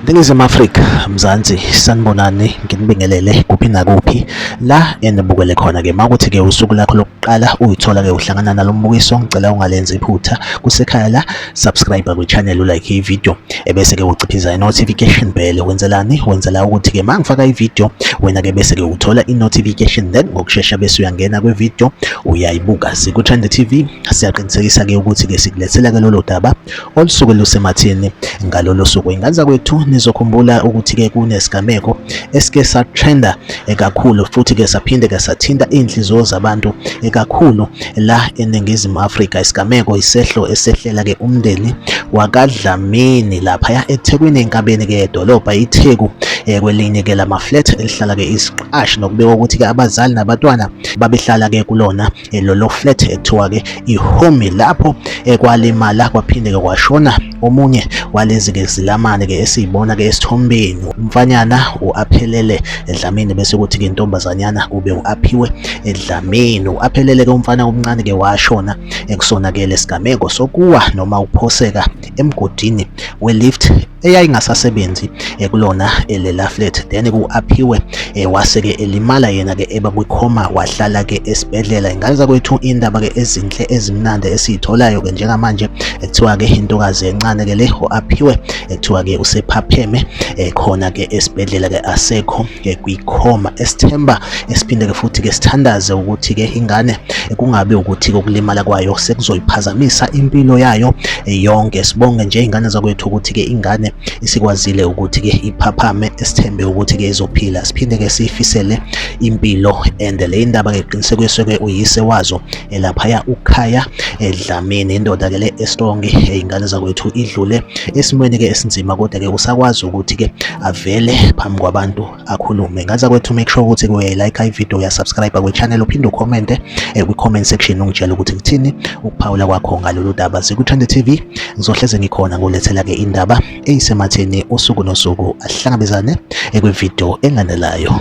Ningizimu Afrika, Mzansi, sanibonani nginibingelele kuphi nakuphi la enibukele khona ke makuthi ke usuku lakho lokuqala uyithola ke uhlangana nalombukiso ngicela ungalenzi iphutha kusekhaya la subscribe kwichannel ulike ivideo ebese ke uciphiza i-notification bell wenzelani wenzela ukuthi ke mangifaka ivideo wena ke bese ke uthola i-notification then ngokushesha bese uyangena kwivideo uyayibuka sikuthanda TV siyaqinisekisa ke ukuthi ke sikulethela ke lolo daba olusuke lusemathini ngalolo suku inganza kwethu nizokhumbula ukuthi ke kunesigameko esike satrenda ekakhulu futhi ke saphinde ke sathinta inhliziyo zabantu ekakhulu la eNingizimu Afrika. Isigameko isehlo esehlela ke umndeni wakaDlamini laphaya eThekwini enkabeni ke edolobha iTheku eh, kwelinye ke lama flat elihlala ke isiqashi nokubeka ukuthi ke abazali nabatwana babehlala ke kulona eh, lolo flat ekuthiwa ke iHome lapho eh, kwalimala kwaphinde ke kwashona Omunye walezi-ke zilamane-ke esiyibona-ke esithombeni umfanyana u-aphelele edlamini bese kuthi-ke intombazanyana kube u-aphiwe edlamini u-aphelele-ke umfana omncane-ke washona ekusona-ke lesigameko sokuwa noma ukuphoseka emgodini we-lift eyayingasasebenzi ekulona eh, elela flat then ku-aphiwe eh, wase-ke elimala yena-ke eba kwikhoma wahlala-ke esibhedlela ingane zakwethu indaba-ke ezinhle ezimnandi esiyitholayo-ke njengamanje kuthiwa-ke intokazi encane ke le o-aphiwe ekuthiwa-ke usephapheme eh, khona ke esibhedlela ke asekho eh, kwikhoma esithemba esiphinde ke futhi ke sithandaze ukuthi ke ingane eh, kungabe ukuthi kokulimala kwayo sekuzoyiphazamisa impilo yayo yonke sibonge nje ingane zakwethu ukuthi ke ingane isikwazile ukuthi ke iphaphame esithembe ukuthi ke izophila siphinde ke siyifisele impilo and le indaba ke qinisekiswe ke uyise wazo elaphaya ukhaya edlamini indoda ke le estrong izingane zakwethu idlule esimweni ke esinzima kodwa ke usakwazi ukuthi ke avele phambi kwabantu akhulume ngaza kwethu make sure ukuthi kuye like i video ya subscribe kwe channel uphinde ucommente eh, kwi comment section ungitshela ukuthi kuthini ukuphawula kwakho ngalolu daba siku Trend TV ngizohleze ngikhona ngolethela ke indaba eyisematheni usuku nosuku ahlangabezane eh, kwi video enganelayo